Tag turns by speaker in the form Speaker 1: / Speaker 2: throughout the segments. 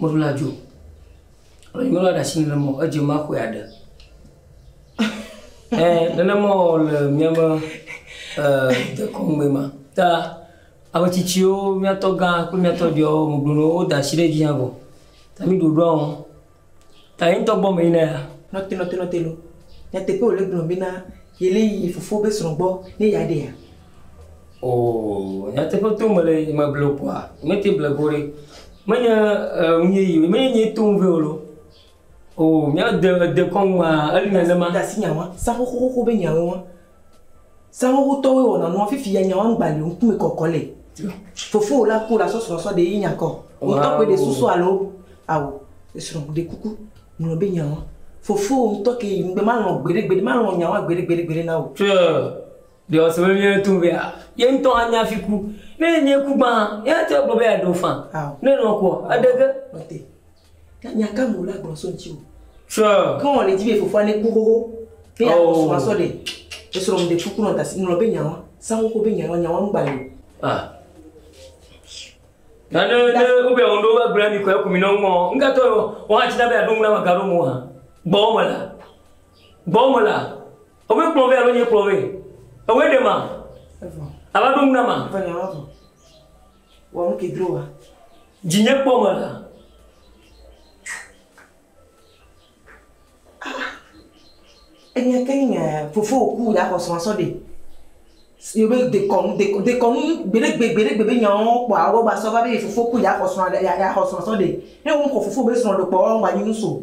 Speaker 1: Meɖu la dzo. Alo nyɔnu la ɖe asi nenema o, edze me axɔe aɖe. Ɛ, nenema o le míaƒe ɛ, dekɔnu me ma. Ta ame tsitsiwo, míatɔ gã kple míatɔ viawo megblɔna woda asi ɖe edzi hã vɔ. Ta mí ɖoɖoa ŋu. Ta ye ŋutɔ gbɔ me yina ya. Nɔte, nɔte, nɔte loo. Nyateƒe wòle gblɔm bena yele yi fofo be srɔ̃ gbɔ ne yeaɖea? Oo, nyateƒe tom mele ye meble wò ƒua, nyemete ble ge wò ɖe. Menye e nu yeye o, menye nyee tom vɛ wò loo. Oo, mía de ède kɔŋ maa, eli nenema. Ɖe asi nya wɔm, zã xoxoxo be nyawoe wɔm. Zã xoxotɔwoe wɔna nua, fifi ya nya wɔm gbali o, ŋkume kɔkɔ le. Fofowò la ku la sɔsrɔ̃ sɔ ɖee nya kɔ. Wò tɔ koe ɖe susu alo ao. Esrɔ̃, ɖe kuku, ŋlɔ be nya wɔm. Fofowò ŋutɔ kee, ŋgbe malɔ̃ gbeɖe gbeɖe, malɔ̃ nya wɔm gbeɖe gbeɖe gbeɖe na wò. Tsoe, Ɖe wòasɔ be míaɖe to ŋu be ye ŋutɔ anya hafi ku? Ne enye ku gbã hã, yeate ŋu agblɔ be yeaɖe wo faa. Ne èlɔ̃ kua, èɖe ge. Mate. Ke nya ka me wòle agblɔ so ŋutiwò? Sure. Ke wɔ nèdi be fofoa neku xoxo be yeaxɔ srɔ̃a sɔ ɖe? Esrɔ̃ ŋu ɖe fu kpɔnɔ ta si ŋlɔ be nyawa, sa xoxo be nyawa, nyawa ŋu gbali o. Ah. Na ne ne wobia ŋu ɖo va gblɔ na mi kɔ eku mi nɔ ŋu mɔ ŋgatɔ wɔ hã tsi na be aɖo ŋu na me gaɖo mo hã. Gbɔwò me la. Gbɔwò me la. Ewe kplɔ vɛ alo nye kplɔ vɛ? Ewe ɖe ma? Evɔ. Ava ɖo ŋu na ma. Evɔ nyɔnɔ vɔ. Wɔ nu ke dro wa. Dzi nye kpɔ me la. Enya ke ni fofo ku ya xɔ srɔ̃ sɔ ɖe. Yobe dekɔnu dekɔnu dekɔnu gbeɖegbe gbeɖegbe be nyawo kpɔ awo ba sɔ va be fofo ku ya xɔ srɔ̃ ya xɔ srɔ̃ sɔ ɖe. Ne wo ŋkɔ fofo be srɔ̃ ɖe kpɔ ŋgba nyi nu so.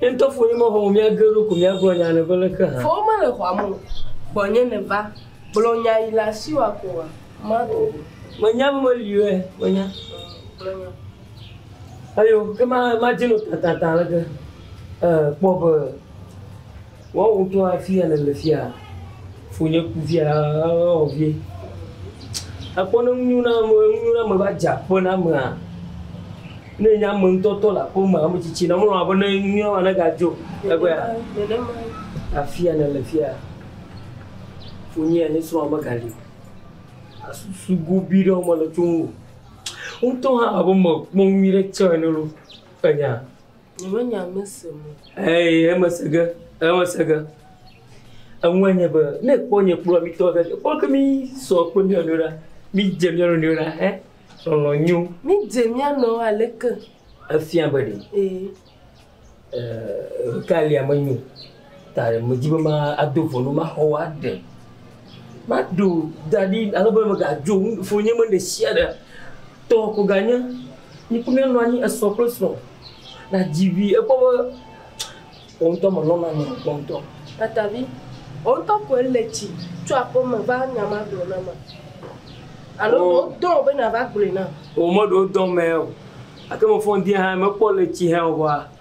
Speaker 1: Ye ŋutɔ ƒo nye mexɔ o, mía geɖewo ko míagblɔ nya aɖe be leke hã? Vɔ womele xɔa me o. Gbɔnye nèva. Gblɔ nya yi le asiwò akɔ oa, maɖo o. Menya be meli oe, menya. Gblɔ nya. Eyo, ke ma, madze no tatata aleke? Ee, kpɔ be. Woawo ŋutɔ afia nèle fia? Fonye ku fia ɔ vie. Èkpɔ ne nu nyo na ame nu nyo na ame va dze aƒe na amea. Ne enye ame ŋutɔ tɔ le aƒe me ame tsitsi na mlɔ abe ne nu nyo na ma ne gadzo egbea. Afia nèle fia? Fonye ya nye srɔ̃a megali o. Asusu gobi ɖe wo mele tso ŋu o. Wo ŋutɔ hã abe mekpɔ nu nyuie ɖe tsɔ ene lo. Enya? Nyemenya nu si me. Eye emese ge, emese ge. Eŋue nye be, ne èkpɔ nye kplɔ̃a mí tɔgbi aɖe, ekpɔ be mísɔ kple mía nɔewo ɖa, mídze mía nɔewo ɖa hẽ, lɔlɔ̃ nyo. Mídze mía nɔewo aleke? Efia be ɖe. Ee. Ee, nu kae lia menyo Ta medi be mado ʋɔnu maxɔ wò aɖe. Maɖo da ɖi ale be mègadzo ŋufonye me ɖesiaɖe tɔ ko ganye. Yi kple míanɔ anyi esrɔ̃ kple srɔ̃ nàdzi vi. Ekpɔ be wò ŋutɔ mèlɔ̃na nɔ o kpɔ ŋutɔ. Tatavi, Wò ŋutɔ koe le tsi tso aƒeme va nya ma gblɔ nam a? Alo ɖe wodɔ wò be nàva gblɔe nam? O, meɖe wodɔm mee o, gake mefɔ ŋdi hã mekpɔ le tsi hem o vɔa,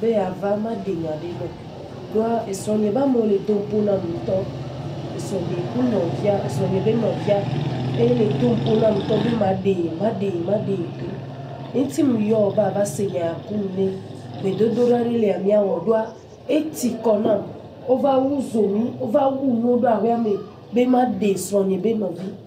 Speaker 1: be yeava maɖe nya ɖe nɔ ɖoa esrɔ̃nye be amewo le dom kpo nam ŋutɔ, esrɔ̃nye ku nɔvia, esrɔ̃nye be nɔvia eye le dom kpo nam ŋutɔ be maɖee, maɖee, maɖee ɖo ŋti ŋ yɔ be ava se nya ku nu ne gbedodoɖa ɖe lia mia wɔ ɖoa eti kɔ nam wova wu zomi, wova wu nuwo ɖo aƒea me be maɖe srɔ̃nye be nɔvi.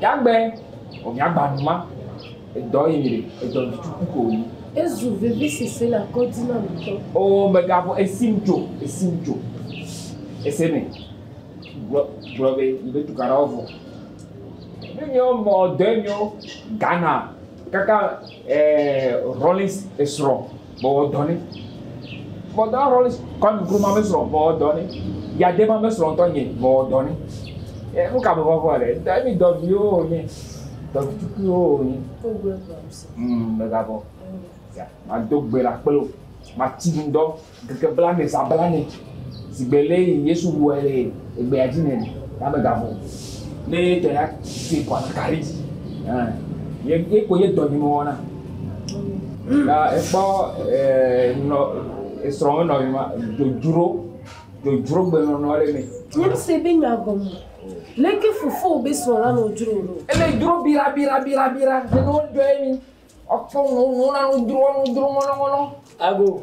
Speaker 1: Yagbe o miagba nu ma edɔ yi mi ɖe edɔ mi tuku ko yi. Ezu vivi sisi le kɔdzi na mi tɔ. O megavɔ esim dzo esim dzo ese me gblɔ gblɔ be yi be tukaɖa wo vɔ. Ne mi wo mɔ dɔ yi mi wo Ghana kaka ɛɛ Rollins esrɔ. Mewɔ dɔ nɛ. Bɔdɔ Rolls Kwame Nkrumah ƒe srɔ̃, mewɔ dɔ nɛ. Yadema ƒe srɔ̃ ŋutɔ nye, mewɔ dɔ nɛ. E, nu ka mevɔ̃ vɔ̃ ɖe? Ŋutɔ mi dɔviwo wònye, dɔvi tukuiwo wònye. Mm, mègavɔ̃. Ya, mado gbe ɖa kple wò. Mati nu dɔ ŋkeke blaene, zã blaene. Sigbe le yi Yesu wuɛ le egbea dzi nɛn, ya me ga vɔn le ye tɔ ya se kɔ ataka ɖe dzi. Ye ye ko ye dɔ nyi mo wɔna. Ya ekpɔ nɔ esrɔ me nɔ yi ma dodro dodro gbe nɔ nɔ le me. Nyem se be nya gɔme. Leke fofo be srɔ la nɔ dro nɔ. Ele dro bira bira bira bira ne no dɔ ye mi. Ɔkpɔ no no na no dro no dro ŋɔnɔ ŋɔnɔ. Ago.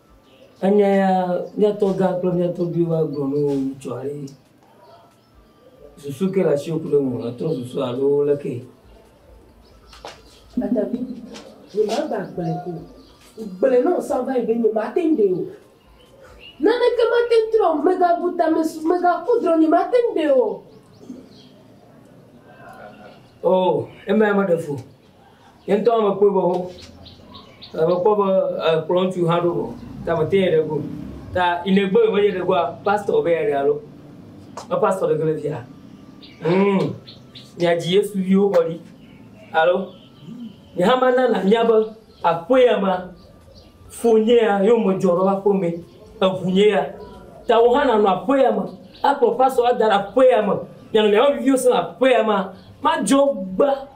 Speaker 1: Enye ya mía tɔgã kple mía tɔgbiwo va gblɔ ne wo ŋu tsɔa eye susu ke le asiwò ku ɖe ŋuwò nètrɔ susu alo leke? Atavi, nyemagba gblɔe ko o. Gblɔe ne wò sãgã yi be nyemate ŋu ɖee o. Naneke mate ŋu trɔ o, mègabu tame su, mègaku drɔ̃, nyemate ŋu ɖee o. Oo, emea meɖe fu o. Nye ŋutɔ hã mekpɔe be wo, mekpɔ be ekplɔ ŋutsu hã ɖo vɔ ta mete yɛ ɖe go ta ine gbe me yɛ ɖe goa pastor be yɛ ɖe alo me pastor ɖe gele via mm mia dzi yesu viwo kɔ ɖi alo nye hã ma nana mia be aƒe ya ma fo nye ya yo me dzɔ ɖo aƒe me eʋu nye ya ta wo hã na nɔ aƒe ya me akplɔ pastor ada aƒe ya me nyanɔ mia be viviwo sena aƒe ya ma ma dzɔ gba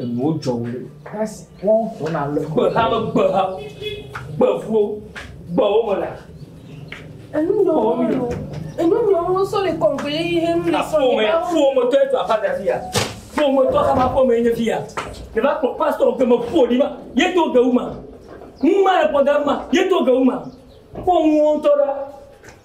Speaker 1: enuwo dzɔ wo ɖe kasi wɔn tɔ na le gbeha me gbeha gbevuwo gbewo me la enu nɔ wo mi nɔ enu nɔ wo sɔ le kɔnkɔe yi he nu le sɔ le ba wo fo mo tɔ etu afa da fia fo mo tɔ kama fo me nye fia le ba kpɔ pastor ke me fo di ma ye to ge wu ma ŋu ma le pɔ da ma ye to ge wu ma fo ŋu wo tɔ la